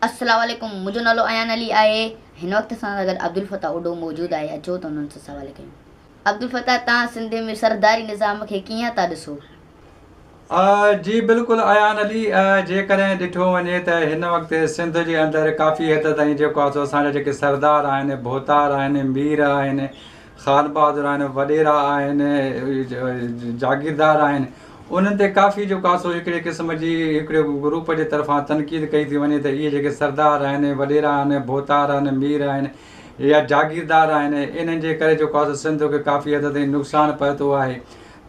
السلام عليڪم منهنجو نالو ايان علي آهي هن وقت اسان سان گڏ عبدالفتاح اوڍو موجود آهي اچو ته انهن سان سوال ڪيون عبدالفتاح تان سنڌ ۾ سرداري نظام کي ڪيئن ٿا ڏسو. جي بلڪل ايان علي جيڪڏهن ڏٺو وڃي ته هن وقت سنڌ جي اندر ڪافي حد تائين جيڪو آهي سو اسان جا جيڪي سردار آهن ڀوتار آهن مير آهن خان بهادر آهن، وڏيرا آهن، جاگيردار آهن، انهن تي ڪافي جو ڪاسو هڪڙي قسم جي هڪڙي گروپ جي طرفان تنقيد ڪئي ٿي وڃي ته اهي جيڪي سردار آهن، وڏيرا آهن، ڀوتار آهن، مير آهن يا جاگيردار آهن انهن جي ڪري جو ڪاسو سنڌ کي ڪافي حد تائين نقصان پهتو آهي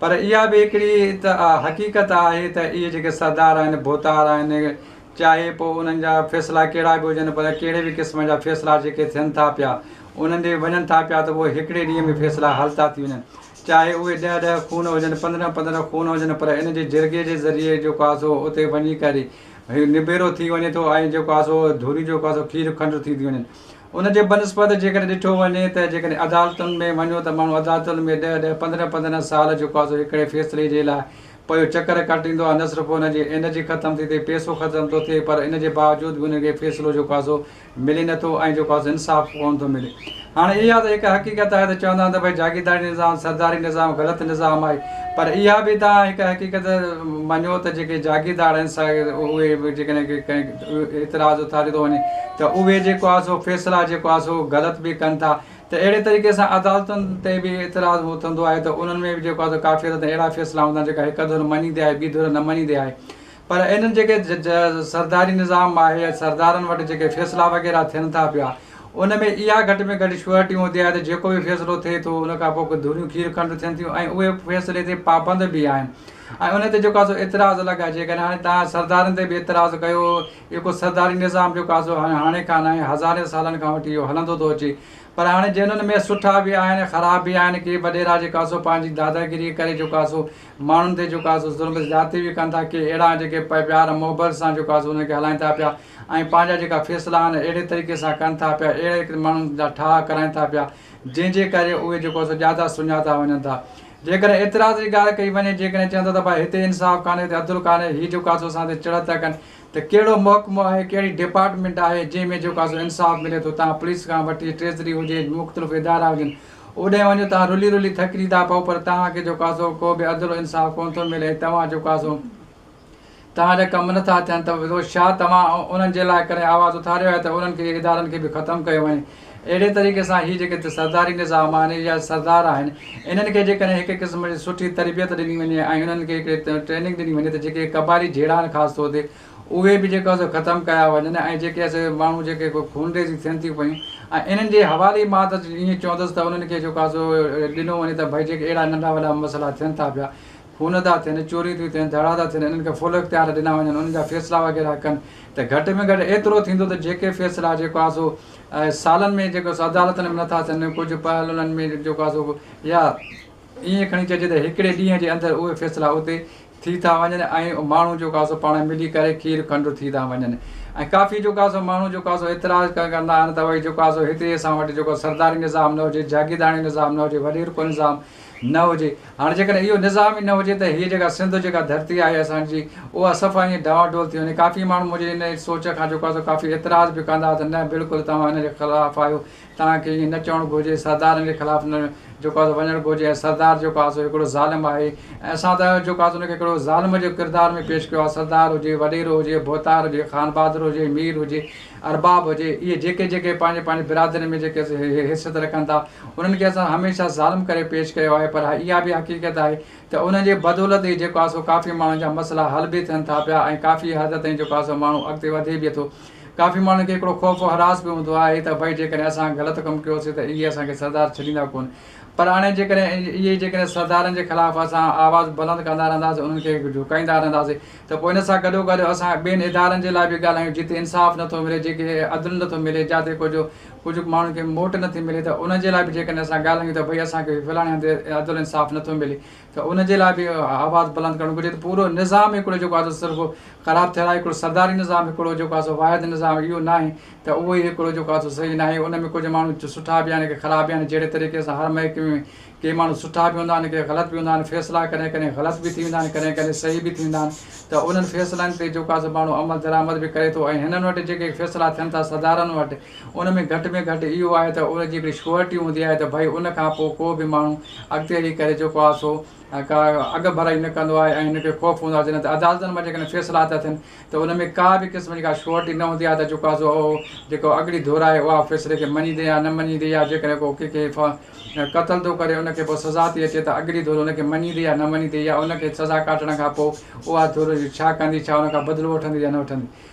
پر اها به هڪڙي ته حقيقت آهي ته اهي جيڪي سردار آهن، ڀوتار آهن چاهي پوء انهن جا فيصلا ڪهڙا به هجن پر ڪهڙي به قسم جا فيصلا جيڪي ٿين ٿا پيا. انهن ڏي وڃن ٿا پيا ته اهي هڪڙي ڏينهن ۾ فيصلا حل ٿا ٿي وڃن چاهي اهي ڏهه ڏهه خون هجن پندرهن پندرهن خون هجن پر ان جي جرڳي جي ذريعي جيڪو آهي سو اتي وڃي ڪري نبيرو ٿي وڃي ٿو ۽ جيڪو آهي سو ڌريون جيڪو آهي سو کير کنڊ ٿي ٿيون وڃن ان جي بنسبت جيڪڏهن ڏٺو وڃي ته جيڪڏهن عدالتن ۾ وڃو ته ماڻهو عدالتن ۾ ڏهه ڏهه پندرهن پندرهن سال جيڪو آهي سو هڪڙي فيصلي جي لاء پيو چڪر ڪٽيندو آهي نه صرف ان جي انرجي ختم ٿي ٿئي پيسو ختم ٿو ٿئي پر ان جي باوجود به ان کي فيصلو جيڪو آهي سو ملي نه ٿو ۽ جو خاص انصاف ڪونه ٿو ملي. هاڻي اها ته هڪ حقيقت آهي ته چوندا آهن ته ڀئي جاگيرداري نظام، سرداري نظام غلط نظام آهي پر اها به توهان هڪ حقيقت مڃو ته جيڪي جاگيردار آهن سا اهي به جيڪڏهن ڪي ڪنهن اعتراض اٿاريو ٿو وڃي ته اهي جيڪو آهي سو فيصلا جيڪو آهي سو غلط به ڪن ٿا ته اهڙي طريقي سان عدالتن تي به اعتراض اٿندو آهي ته انهن ۾ به جيڪو آهي سو ڪافي حد تائين اهڙا فيصلا هوندا آهن جيڪا هڪ ڌر مڃيندي آهي ٻي ڌر نه مڃيندي آهي پر انهن جيڪي سرداري نظام آهي يا سردارن وٽ جيڪي فيصلا وغيره ٿين ٿا پيا ان ۾ اها گهٽ ۾ گهٽ شيورٽي هوندي آهي ته جيڪو به فيصلو ٿئي ٿو ان کان پوء ڪو دوريون کير کنڊ ٿين ٿيون ۽ اهي فيصلي تي پابند به آهن ۽ ان تي جيڪو آهي سو اعتراض الڳ آهي جيڪڏهن هاڻي تهان سردارن تي به اعتراض ڪيو اهو ڪو سرداري نظام جيڪو آهي سو هاڻي کان ناهي هزارين سالن کان وٺي اهو هلندو ٿو اچي پر هاڻي جنهن ان ۾ سٺا به آهن خراب به آهن ڪي وڏيرا جيڪا سو پنهنجي داداگيري ڪري جيڪو آهي سو ماڻهن تي جيڪو آسو ظلم زيادتي به ڪن ٿا ڪي اهڙا جيڪي پئي پيار محبت سان جيڪو آسو انهن کي هلائين ٿا پيا ۽ پنهنجا جيڪا فيصلا آهن اهڙي طريقي سان ڪن ٿا پيا اهڙي ڪري ماڻهن جا ٺاهه ڪرائين ٿا پيا جنهن جي ڪري اهي جيڪو آسو جيادا سڃاتا وڃن ٿا جيڪڏهن اعتراض جي ڳالهه ڪئي وڃي جيڪڏهن چون ٿا ته ڀائي هتي انصاف ڪانهي هتي عدل ڪانهي هي جيڪو آسو اسان تي چڙت ٿا ڪن ته ڪهڙو محڪمو آهي ڪهڙي ڊپارٽمينٽ آهي جنهن ۾ جيڪو آسو انصاف ملي ٿو تان پوليس کان وٺي ٽريزري هجي مختلف ادارا هجن اوڏهين وڃو توهان رلي رلي ٿڪجي ٿا پئو پر توهان کي جو ڪاسو ڪو به عدل و انصاف ڪونه ٿو ملي ۽ توهان جو ڪاسو توهان جا ڪم نه ٿا ٿين ته ڇا توهان انهن جي لاء ڪڏهن آواز اٿاريو آهي ته انهن کي ادارن کي به ختم ڪيو وڃي اهڙي طريقي سان هي جيڪي سرداري نظام آهن يا سردار آهن انهن کي جيڪڏهن هڪ قسم جي سٺي تربيت ڏني وڃي ۽ انهن کي هڪڙي ٽريننگ ڏني وڃي ته جيڪي قبائلي جهيڙا آهن خاص طور تي اهي به جيڪو سو ختم ڪيا وڃن ۽ جيڪي سي ماڻهو جيڪي ڪو خونريزي ٿين ٿيون پيون ۽ انهن جي حوالي مان ته ائين چوندس ته انهن کي جيڪو سو ڏنو وڃي ته ڀئي جيڪي اهڙا ننڍا وڏا مسئلا ٿين ٿا پيا خون ٿا ٿين چوريون ٿيون ٿين ڌڙا ٿا ٿين انهن کي فل اختيار ڏنا وڃن انهن جا فيصلا وغيره ڪن ته گهٽ ۾ گهٽ ايترو ٿيندو ته جيڪي فيصلا جيڪو سو سالن ۾ جيڪو سو عدالتن ۾ نٿا ٿين ڪجهه پهل انهن ۾ جيڪو سو يا ائين کڻي چئجي ته هڪڙي ڏينهن جي اندر اهي فيصلا اتي ٿي ٿا وڃن ۽ ماڻهو جو ڪاسو پاڻ ملي ڪري کير کنڊو ٿي ٿا وڃن ۽ ڪافي جو ڪاسو ماڻهو جو ڪاسو اعتراض ڪندا آهن ته وئي جو ڪاسو هيتري اسان وٽ جو ڪو سرداري نظام نه هجي جاگيرداڻي نظام نه هجي وڏير ڪو نظام نه هجي هاڻ جيڪڏهن اهو نظام ئي نه هجي ته هيء جيڪا سنڌ جيڪا ڌرتي آهي اسان جي اها صفا ائين ڊانوا ڊول ٿي وڃي ڪافي ماڻهو منهنجي ان سوچ کان جو ڪاسو ڪافي اعتراض به ڪندا ته نه بلڪل توهان ان جي خلاف آهيو توهان کي ائين نه چوڻ گهرجي، سردارن جي خلاف نه جيڪو آهي سو وڃڻ گهرجي ۽ سردار جيڪو آهي سو هڪڙو ظالم آهي ۽ اسان ته جيڪو آهي سو ان کي هڪڙو ظالم جي ڪردار ۾ پيش ڪيو آهي، سردار هجي، وڏيرو هجي، ڀوتار هجي، خانبهادر هجي، مير هجي، ارباب هجي، اهي جيڪي جيڪي پنهنجي پنهنجي برادرين ۾ جيڪي حيثيت رکن ٿا، انهن کي اسان هميشه ظالم ڪري پيش ڪيو آهي پر اها به حقيقت آهي ته انهن جي بدولت ئي جيڪو آهي سو ڪافي ماڻهن جا مسئلا حل به ٿين ٿا پيا ۽ ڪافي حد تائين جيڪو آهي سو ماڻهو اڳتي وڌي به ٿو. ڪافي ماڻهن کي هڪڙو خوف و هراس به هوندو آهي ته ڀئي جيڪڏهن اسان غلط ڪم ڪيوسين ته اهي اسان کي سردار ڇڏيندا ڪونه پر هاڻي جيڪڏهن اهي جيڪڏهن سردارن جي خلاف اسان آواز بلند ڪندا رهنداسين انهن کي جهڪائيندا رهنداسين ته پوء ان سان گڏوگڏ اسان ٻين ادارن جي لاء به ڳالهايون جتي انصاف نٿو ملي جيڪي عدل نٿو ملي جاتي ڪجهه ڪجهه ماڻهن کي موٽ نٿي ملي ته انهن جي لاء به جيڪڏهن اسان ڳالهايون ته ڀئي اسان کي فلاڻي هنڌ عدل انصاف نٿو ملي ته ان جي لاء به آواز بلند ڪرڻ گهرجي ته پورو نظام هڪڙو جيڪو آهي سو صرف خراب ٿيل آهي هڪڙو سرداري نظام هڪڙو جيڪو آهي سو واحد نظام اهو ناهي ته اهو ئي هڪڙو جيڪو آهي سو صحيح ناهي ان ۾ ڪجهه ماڻهو سٺا به آهن ڪي خراب به آهن جهڙي طريقي سان هر محڪمي ۾ ڪي ماڻهو سٺا به هوندا آهن ڪي غلط به هوندا آهن فيصلا ڪڏهن ڪڏهن غلط به ٿي ويندا آهن ڪڏهن ڪڏهن صحيح به ٿيندا آهن ته انهن فيصلن تي جيڪو آهي سو ماڻهو عمل درآمد به ڪري ٿو ۽ هنن وٽ جيڪي فيصلا ٿين ٿا سردارن وٽ ان ۾ گهٽ ۾ گهٽ اهو آهي ته ان جي هڪڙي شيورٽي هوندي آهي ته ڀئي ان کان پوء ڪو به ماڻهو اڳتي هلي ڪري جيڪو آهي سو ڪا اڳ ڀرائي نه ڪندو آهي ۽ هن کي خوف هوندو آهي جڏهن ته عدالتن مان جيڪڏهن فيصلا ٿا ٿين ته ان ۾ ڪا به قسم جي ڪا شيورٽي نه هوندي آهي ته جيڪو آهي سو اهو جيڪو اڳڙي ڌر آهي اها فيصلي کي مڃيندي يا نه مڃيندي يا جيڪڏهن ڪو ڪنهن کي قتل ٿو ڪري ان کي پوء سزا ٿي اچي ته اڳڙي ڌر ان کي مڃيندي يا نه مڃيندي يا ان کي سزا ڪاٽڻ کان پوء اها ڌر ڇا ڪندي ڇا ان کان بدلو وٺندي يا نه وٺندي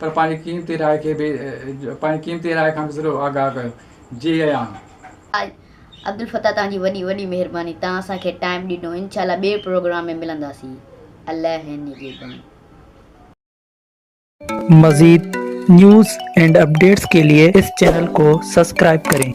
پر پنهنجي قيمتي راء کي به پنهنجي قيمتي راء کان به ضرور آگاهه ڪيو. جيئان. حاج عبدالفتاح توهان جي وڏي وڏي مهرباني توهان اسان کي ٽائيم ڏنو انشاء الله ٻئي پروگرام ۾ ملنداسين الله نگهبان. مزيد نيوز اينڊ اپڊيٽس ڪي لئي اس چينل ڪو سسڪرائب ڪرين.